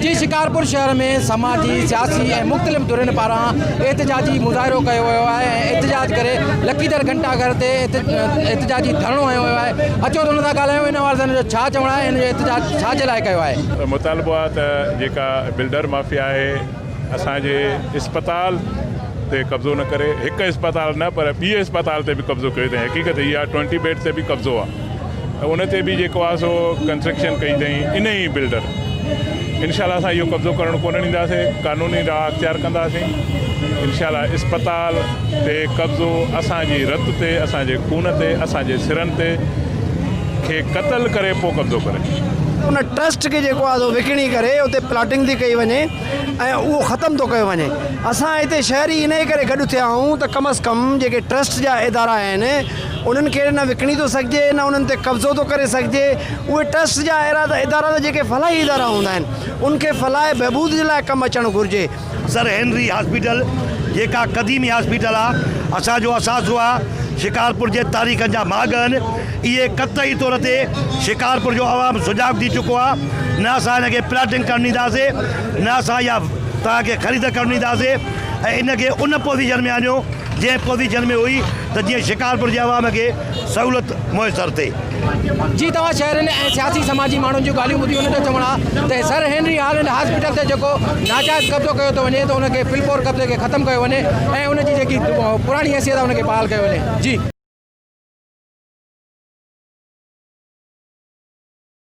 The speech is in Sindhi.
جي شڪارپور شهر ۾ سماجي، سياسي ۽ مختلف ڌرين پاران احتجاجي مظاهرو ڪيو ويو آهي ۽ احتجاج ڪري لڪيدر گهنٽا گهر تي احتجاجي ڌرڻو هنيو ويو آهي اچو ته ان سان ڳالهايون ان حوالي سان ان جو ڇا چوڻ آهي ۽ ان جو احتجاج ڇا جي لاء ڪيو آهي. مطالبو آهي ته جيڪا بلڊر مافيا آهي اسان جي اسپتال تي قبضو نه ڪري هڪ اسپتال نه پر ٻي اسپتال تي به قبضو ڪيو اٿائين حقيقت هي آهي ٽوئنٽي بيڊ تي به قبضو آهي. ان تي به جيڪو آهي سو ڪنسٽرڪشن ڪئي اٿئين انهي ئي بلڊر انشاء الله اسان اهو قبضو ڪرڻ ڪونه ڏينداسين قانوني راهه اختيار ڪنداسين انشاء الله اسپتال تي قبضو اسان جي رت تي اسان جي خون تي اسان جي سرن تي کي قتل ڪري پو قبضو ڪري ان ٽرسٽ کي جيڪو آهي سو وڪڻي ڪري اتي پلاٽنگ ٿي ڪئي وڃي ۽ اهو ختم ٿو ڪيو وڃي اسان هتي شهري انهي ڪري گڏ ٿيا آهيون ته ڪم از ڪم جيڪي ٽرسٽ جا ادارا آهن انهن کي نه وڪڻي ٿو سگهجي نه انهن تي قبضو ٿو ڪري سگهجي، اهي ٽرسٽ جا ادارا ته جيڪي فلاحي ادارا هوندا آهن ان کي فلاح ۽ بهبود جي لاء ڪم اچڻ گهرجي. سر هينري هاسپيٽل جيڪا قديمي هاسپيٽل آ اسان جو اثاثو آ شڪارپور جي تاريخن جا ماڳ هن اهي قطعي طور تي شڪارپور جو عوام سجاڳ ٿي چڪو آ نه اسان هن کي پلاٽنگ ڪرڻ ڏينداسي نه اسان اها توهان کي خريد ڪرڻ ڏينداسي ۽ ان کي ان پوزيشن ۾ آڻيو جنهن پوزيشن ۾ هئي ته جيئن شڪارپور جي عوام کي سهولت ميسر ٿئي. جي توهان شهرين ۽ سياسي سماجي ماڻهن جون ڳالهيون ٻڌيون نه ته چوڻ آ ته سر هينري هالنڊ هاسپيٽل تي جيڪو ناجائز قبضو ڪيو ٿو وڃي ته ان کي فلپور قبضي کي ختم ڪيو وڃي ۽ ان جي جيڪي پراڻي حيثيت آ ان کي بحال ڪيو وڃي.